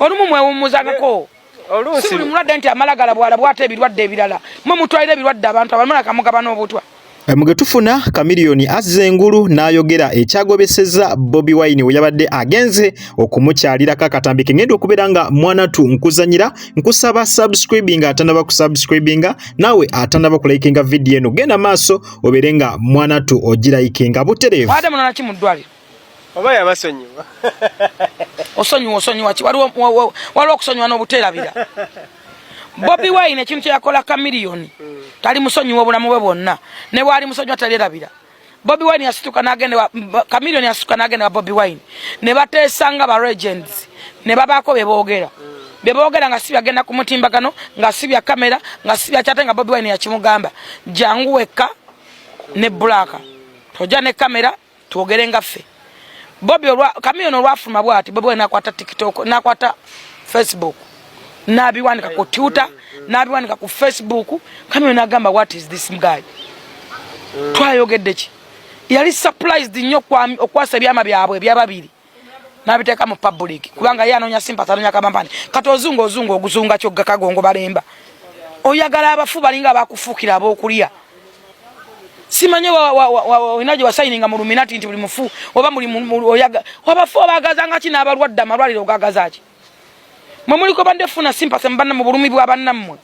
olumu mwewummuzangako si buli mulwadde nti amalagala bwala bwata ebirwadde ebirala mwe mutwalira ebirwadde abantu abamala kamugabana obutwa Eh, muge tufuna kamiliyoni azza engulu n'ayogera ekyagobeseza bobi wine we yabadde agenze okumukyalirako akatambi ke ngenda okubeera nga mwana tu nkuzanyira nkusaba subscribinga atanaba kusubscribinga naawe atanaba kulayikinga vidiyo eno genda maaso obeere nga mwana tu ogirayikinga butereevu oba yabasonyiwa osonyiwa osonyiwa ki waliwo waliwo okusonyiwa n'obuteerabira bobi wine ekintu kyeyakola kamiliyoni hmm. tali musonyiwa obulamu bwe bwonna ne bwali musonyiwa talyerabira bobi wine yasituka nagenda kamiliyoni yasituka nagenda wa bobi wine ne bateesa nga ba regents ne babaako bye boogera hmm. bye boogera nga si byagenda ku mutimbagano nga si bya kamera nga si byakyate nga bobi wine yakimugamba jangu wekka ne bulaaka tojja ne kamera twogere nga ffe bobi olwa kamiyoni olwafuluma bwati bobi nakwata tiktok nakwata facebook nabiwanika ku twitter nabiwanika ku facebook kamiyoni agamba what is this guy mm. twayogedde ki yali surprised nnyo okwasa ebyama byabwe ebyababiri nabiteeka mu public kubanga ye anoonya sympathy anoonya kamampani kati ozunga ozunga oguzunga kyogga kagongo balemba oyagala abafu balinga abakufuukira ab'okulya simanye olina gye wasayininga mu luminati nti buli mufu oba abafu obagazanga ki n'abalwadde amalwaliro ogagaza ki mwe muliko badde funa sympathy mu bulumi bwa bannammwe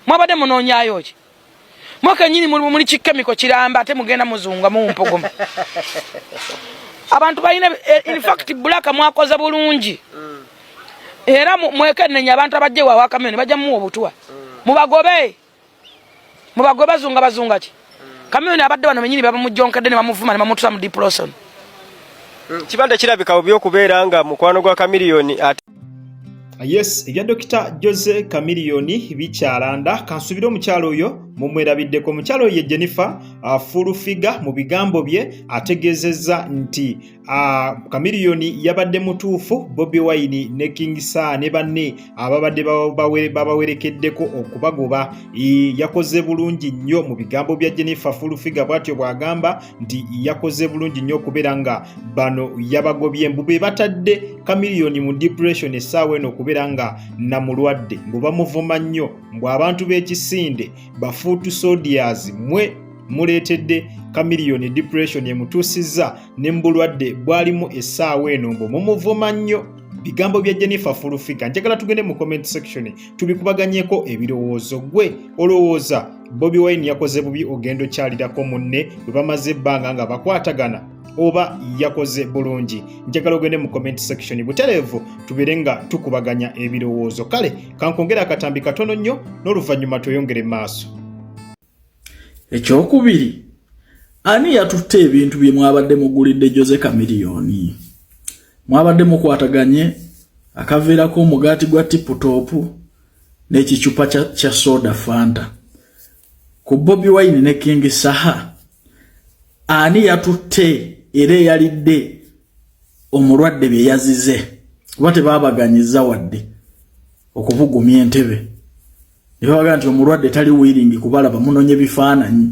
mwabadde munoonyayo ki mwaka nyini muli kikemiko kiramba ate mugenda muzunga mumpogoma abantu balina eh, infact bulaka mwakoza bulungi mm. era mwekenenya abantu abajja ewawe akamyoni bajja muwa obutwa mm. mubagobe mubagobe bazunga bazunga ki mm. kamyoni abadde bano benyini babamujjonkedde ne bamuvuma ne bamutusa mu diploson kibanda kirabika obi okubeera nga mukwano gwa kamiliyoni yes ebya dokita jose kamiliyoni bikyalanda kansubire omukyalo oyo mumwerabiddeko omukyalo oyo ye jennifer uh, fulufiga mu bigambo bye ategeezezza nti uh, kamiliyoni yabadde mutuufu bobi wine ne king sa ne banne ababadde babawerekeddeko okubagoba yakoze bulungi nnyo mu bigambo bya jennifer fulufiga bwatyo bw'agamba nti yakoze bulungi nnyo okubeera nga bano yabagobye mbu be batadde kamiliyoni mu depression essaawa eno okubeera nga namulwadde mbu bamuvuma nnyo mbu abantu b'ekisinde bafuutu sodias mwe muleetedde kamiliyoni depression emutuusizza ne mu bulwadde bwalimu essaawa eno mbu mumuvuma nnyo bigambo bya jennifer fulufiga njagala tugende mu comment section tubikubaganyeko ebirowoozo gwe olowooza bobi wine yakoze bubi ogenda okyalirako munne bwe bamaze ebbanga nga bakwatagana oba yakoze bulungi njagala ogende mu comment section butereevu tubeere nga tukubaganya ebirowoozo kale kankongera akatambi katono nnyo n'oluvannyuma tweyongere maaso ekyokubiri ani yatutte ebintu bye mwabadde mugulidde jose kamiliyoni mwabadde mukwataganye akaveerako omugaati gwa tiputopu n'ekicupa kya, kya soda fanta ku bobi wine ne king saha ani yatutte era eyalidde omulwadde bye yazize kuba tebabaganyiza wadde okubugumya entebe ne babaga nti omulwadde tali wiringi kubalaba munonye bifaananyi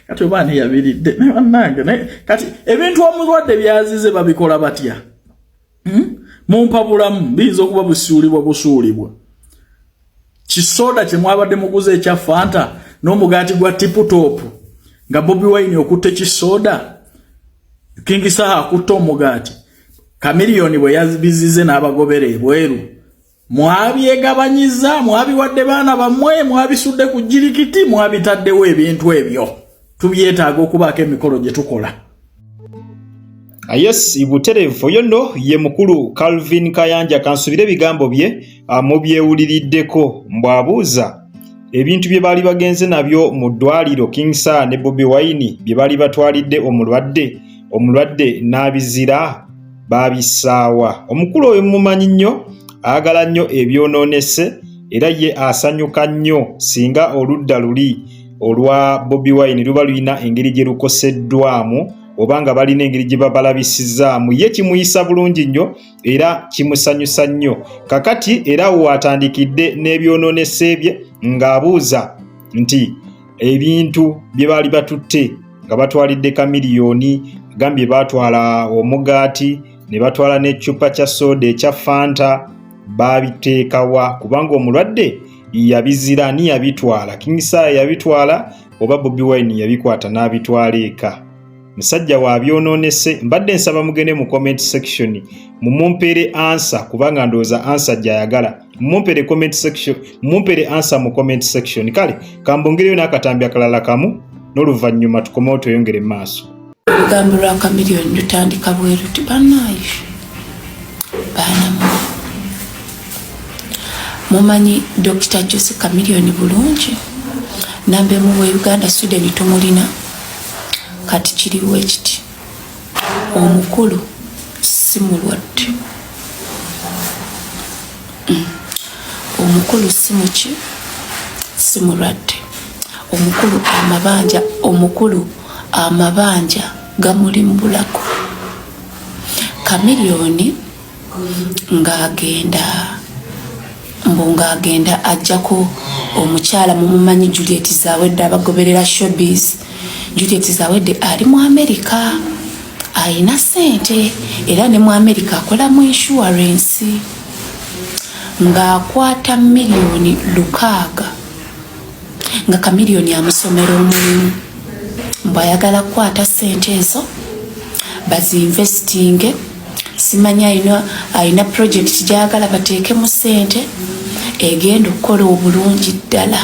kati oba ani yabiridde naye bannange kati ebintu omulwadde byazize babikola batya hmm? mumpa bulamu biyinza okuba busuulibwa busuulibwa kisoda kye mwabadde muguza ekya fanta n'omugaati gwa tiputopu nga bobi wine okutte kisoda kingisaha akutte omugaati kamiliyoni bwe yabizize n'abagobera ebweru mwabyegabanyiza mwabiwadde baana bammwe mwabisudde ku jirikiti mwabitaddewo ebintu ebyo tubyetaaga okubaako emikolo gye tukola ah, yes buterevu oyo nno ye mukulu calvin kayanja kansubire ebigambo bye ah, mubyewuliriddeko mbwabuuza ebintu bye baali bagenze nabyo mu ddwaliro king sir ne bobi wine bye baali batwalidde omulwadde omulwadde n'abizira baabissaawa omukulu oyo mumumanyi nnyo ayagala nnyo ebyonoonese era ye asanyuka nnyo singa oludda luli olwa bobi wine luba lulina engeri gye lukoseddwamu oba nga balina engeri gye babalabisizaamu ye kimuyisa bulungi nnyo era kimusanyusa nnyo kakati era waatandikidde n'ebyonoonese bye ng'abuuza nti ebintu bye baali batutte nga batwalidde kamiliyoni gambye baatwala omugaati ne batwala n'ecupa kya sooda ekya fanta baabiteekawa kubanga omulwadde yabizira ani yabitwala kingisaaya yabitwala oba bobi wine yabikwata n'abitwala eka musajja wa byononese mbadde nsaba mugende mu comment section mumumpere ansa kubanga ndowooza ansa gyayagala mumumpere comment section mumumpere ansa mu comment section kale kambongereyo n'akatambi akalala kamu n'oluvannyuma tukomewo tweyongere maaso olugambo lwa kamiliyoni lutandika bweruti banaye baanamu mumanyi dokita jose kamiliyoni bulungi nambemuwa uganda sweden tumulina kati kiriwo ekiti omukulu si mulwadde mm. omukulu si muki si mulwadde omukulu amabanja omukulu amabanja gamulimbulako kamiliyoni ng'agenda mbu ng'agenda ajjako omukyala mumumanyi juliet zawedde abagoberera shobis juliet zawedde ali mu amerika alina sente era ne mu amerika akola mu inshuwarensi ng'akwata miliyoni lukaaga nga kamiliyoni amusomera omulimu mbwayagala kukwata sente ezo bazinvestinge simanyi alina alina purojekiti gyagala bateekemu ssente egenda okukola obulungi ddala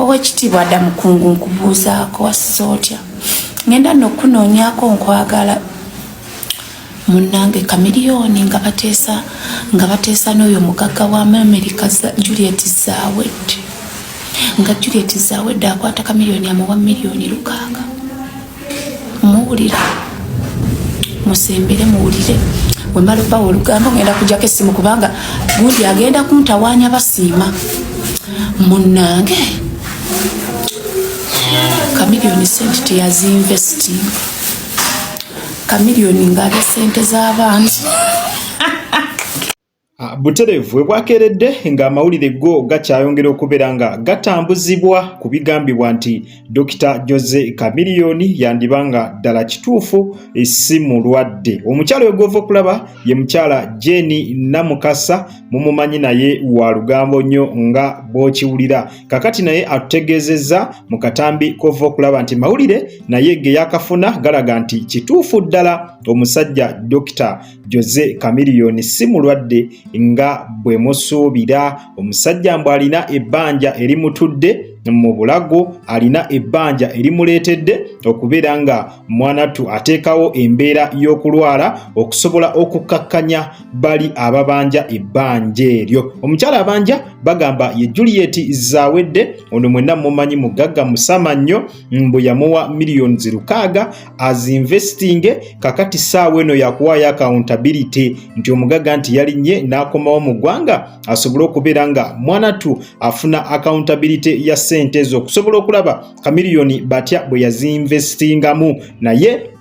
owekitiibwa dda mukungu nkubuuzaako wasiza otya ngenda nokunoonyako nkwagala munange kamiliyoni nga bateesa nga bateesa n'oyo mugagga wa amerika juliet zawed nga juliet zawed akwata kamiliyoni amuwa miliyoni lukaaga muwulira musembere muwulire wemala obawa olugambo ngenda kujako esimu kubanga gundi agenda kuntawanya basiima munange kamiliyoni sente teyazinvesting kamiliyoni ngaalya sente z'abaana Ah, butereevu we bwakeeredde ng'amawulire go gakyayongera okubeera nga gatambuzibwa ku bigambibwa nti dokita jose kamiliyoni yandiba nga ddala kituufu si mulwadde omukyala oyo gwova okulaba ye mukyala jeni namukasa mumumanyi naye wa lugambo nnyo nga bw'okiwulira kakati naye atutegeezezza mu katambi kova okulaba nti mawulire naye ge yakafuna galaga nti kituufu ddala omusajja dokita Jose Chameleone si mulwadde nga bwe musuubira. Omusajja mbu alina ebbanja erimutudde mu bulago alina ebbanja erimuleetedde okubeera nga mwanattu ateekawo embeera y'okulwala okusobola okukkakkanya bali ababanja ebbanja eryo omukyala abanja bagamba ye juliet zawedde ono mwenna mumanyi mugagga musama nnyo mbu yamuwa millions lukaaga as investing kakati saawa eno yakuwaayo accountability nti omugaga nti yalinye n'akomawo mu ggwanga asobole okubeera nga mwanatu afuna accountability ya sente ezo okusobola okulaba kamiliyoni batya bwe yaziinvestingamu naye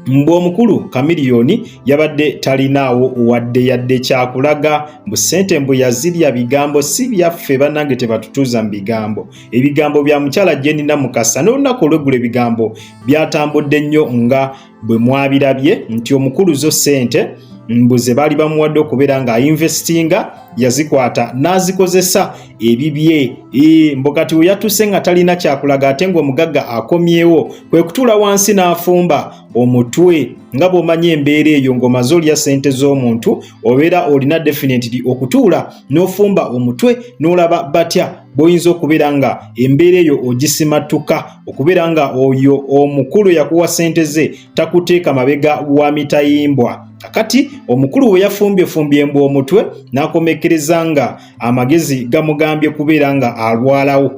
Mbu omukulu Kamiliyoni yabadde talinaawo wadde yadde kyakulaga mbu ssente mbu yazirya bigambo si byaffe bannange tebatutuuza mu bigambo ebigambo bya mukyala Jenina Mukasa n'olunaku olweggulo ebigambo byatambudde nnyo nga bwe mwabirabye nti omukulu zo ssente mbu ze baali bamuwadde okubeera ng'ayinvestinga yazikwata n'azikozesa ebibye ee mbu kati we yatuuse nga talina kyakulaga ate ng'omugagga akomyewo kwe kutuula wansi n'afumba omutwe nga bw'omanyi embeera eyo ng'omaze olya ssente z'omuntu obeera olina definitely okutuula n'ofumba omutwe n'olaba batya bw'oyinza okubeera nga embeera eyo ogisimattuka okubeera nga oyo omukulu yakuwa ssente ze takuteeka mabega wa mitayimbwa kakati omukulu we yafumbyefumby embwa omutwe n'akomekkereza nga amagezi gamugambye kubeera nga alwalawo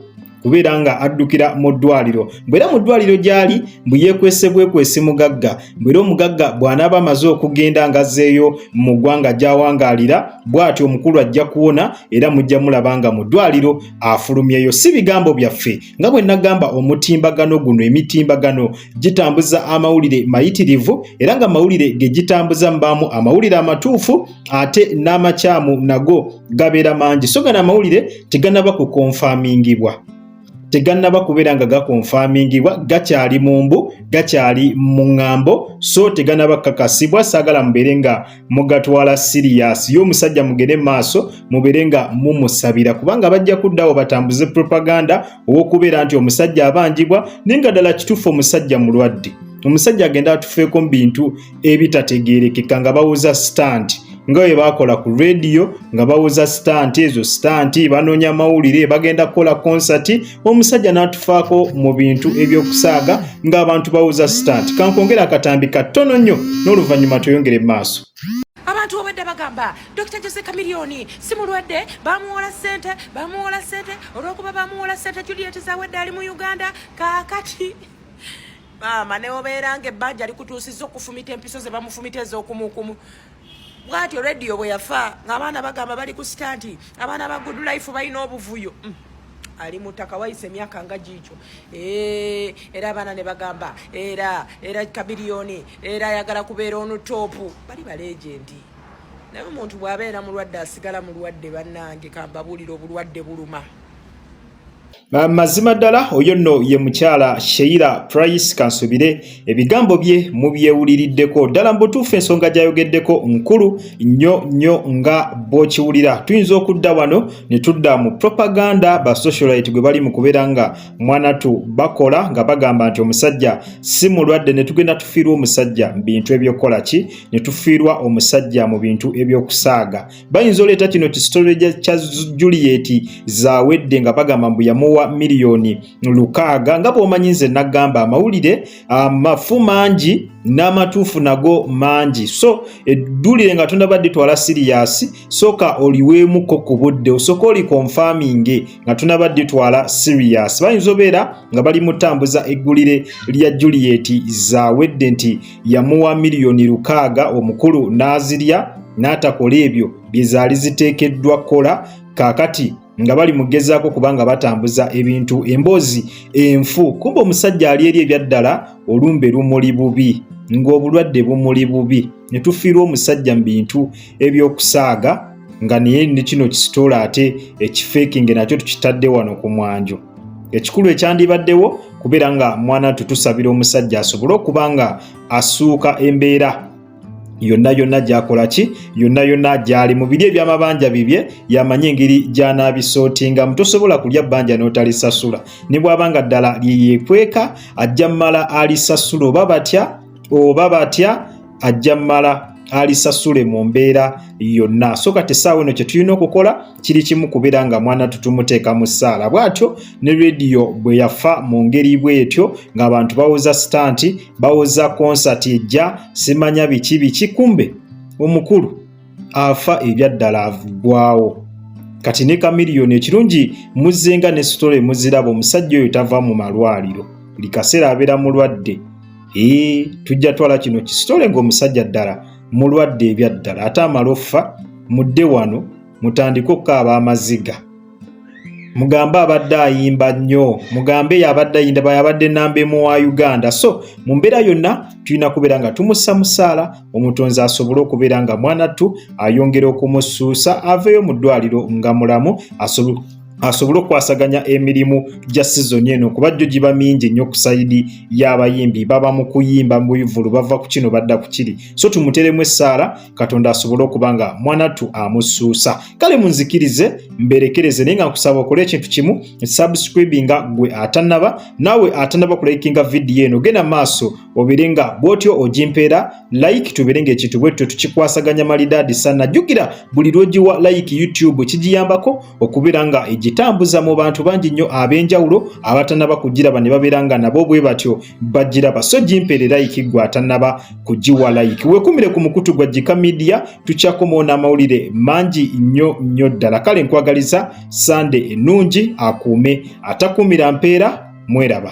kubeera nga addukira mu ddwaliro mbwera mu ddwaliro gy'ali mbu yeekwese bwekwesi mugagga mbwera omugagga bw'anaaba amaze okugenda ngazzeeyo mu ggwanga gy'awangaalira bw'atyo omukulu ajja kuwona era mujja mulaba nga mu ddwaliro afulumyeyo si bigambo byaffe nga bwe nagamba omutimbagano guno emitimbagano gitambuza amawulire mayitirivu era nga mawulire ge gitambuza mbaamu amawulire amatuufu ate n'amakyamu nago gabeera mangi so gana amawulire teganaba kukonfamingibwa tegannaba kubeera nga gakonfamingibwa gakyali mu mbu gakyali mu ŋŋambo so teganaba kakasibwa saagala mubeere nga mugatwala siriyasi ye omusajja mugere maaso mubeere nga mumusabira kubanga bajja kuddawo batambuze propaganda ow'okubeera nti omusajja abanjibwa naye nga ddala kituufu omusajja mulwadde omusajja agenda atufeeko mu bintu ebitategeerekeka nga bawoza sitanti nga bwe baakola ku rediyo nga bawoza sitanti ezo sitanti banoonya mawulire bagenda kukola konsati omusajja n'atufaako mu bintu eby'okusaaga ng'abantu bawoza sitanti kankwongera akatambi kattono nnyo n'oluvannyuma tweyongere mu maaso abantu obwedda bagamba dr jose kamiliyoni si mulwadde bamuwola ssente bamuwola ssente olwokuba bamuwola ssente juliet zawedde ali mu uganda kakati maama neobeera nga ebbanja likutuusiza okufumita empiso ze bamufumita ez'okumukumu bwatyo rediyo bwe yafa ng'abaana bagamba bali ku sita nti abaana ba good life balina obuvuyo mm. ali mutaka wayise emyaka nga giikyo era abaana ne bagamba era era kabiliyoni era ayagala kubeera onu toopu bali baleegendi naye omuntu bw'abeera mulwadde asigala mulwadde bannange kambabuulira obulwadde buluma mazima ddala oyo nno ye mukyala sheila price kansubire ebigambo bye mubyewuliriddeko ddala mu butuufu ensonga gyayogeddeko nkulu nnyo nnyo nga bw'okiwulira tuyinza okudda wano ne tudda mu propaganda ba socialite gwe bali mu kubeera nga mwanatu bakola nga bagamba nti omusajja si mulwadde ne tugenda tufiirwa omusajja mu bintu ebyokukola ki ne tufiirwa omusajja mu bintu ebyokusaaga bayinza oleeta kino kisitole kya juliyeti zawedde nga bagamba mbu yamuwa miliyoni lukaaga nga bwomanyi nze nagamba amawulire amafu mangi n'amatuufu nago mangi so eddulire nga tonaba ditwala siriyasi sooka oliweemuko ku budde osooka oli konfaminge nga tunaba ditwala serious bayinza obeera nga bali mutambuza eggulire lya juliet zawedde nti yamuwa miliyoni lukaaga omukulu n'azirya n'atakola ebyo bye zaali ziteekeddwa kukola kaakati nga bali mugezaako kubanga batambuza ebintu emboozi enfu kumba omusajja ali eri ebyaddala olumbe lumuli bubi ng'obulwadde bumuli bubi ne tufiirwa omusajja mu bintu eby'okusaaga nga naye ne kino kisitoola ate ekifeekinge nakyo tukitadde wano ku mwanjo ekikulu ekyandibaddewo kubeera nga mwana tutusabira omusajja asobole okuba nga asuuka embeera yonna yonna gyakola ki yonna yonna gyali mu biri ebyamabanja bibye yamanye engeri gyanabisootingamu tosobola kulya bbanja n'otalisasula ne bwaba nga ddala lyeyekweka ajja mumala alisasula oba batya oba batya ajja mala alisasule mu mbeera yonna so kati essaawa eno kye tulina okukola kiri kimu kubeera nga mwana tutumuteeka mu ssaala bw'atyo ne rediyo bwe yafa mu ngeri bw'etyo ng'abantu bawoza sitanti bawoza konsati ejja simanya biki biki kumbe omukulu afa ebyaddala agwawo kati ne kamiliyoni ekirungi muzzenga ne sitole muziraba omusajja oyo tava mu malwaliro buli kaseera abeera mulwadde ee tujja twala kino kisitole ng'omusajja ddala mulwadde ebyaddala ate amala offa mudde wano mutandike okukaaba amaziga mugambe abadde ayimba nnyo mugambe yabadde ayindaba yabadde namba emu wa uganda so mu mbeera yonna tulina kubeera nga tumussa musaala omutonzi asobole okubeera nga mwanattu ayongera okumusuusa aveeyo mu ddwaliro nga mulamu asobole asobole okukwasaganya emirimu gya sizoni eno kuba jjo giba mingi ennyo ku sayidi y'abayimbi baba mu kuyimba mu bivulu bava ku kino badda ku kiri so tumuteremu essaala katonda asobole okuba nga mwanattu amusuusa kale munzikirize mberekereze naye nga nkusaba okole ekintu kimu subscribinga gwe atanaba naawe atanaba kulayikinga vidiyo eno genda maaso obere nga bwotyo ogimpeera like tubere nga ekintu bwetyo tukikwasaganya malidaadi sana jjukira buli lwogiwa like youtube kigiyambako okubeera nga egitambuza mu bantu bangi nnyo ab'enjawulo abatanaba kugiraba ne babeera nga nabo bwe batyo bagiraba so gimpeere like gwe atanaba kugiwa like wekumire ku mukutu gwa jika media tukyakomawo n'amawulire mangi nnyo nnyo ddala kale nkwagaliza sande ennungi akuume atakuumira mpeera mweraba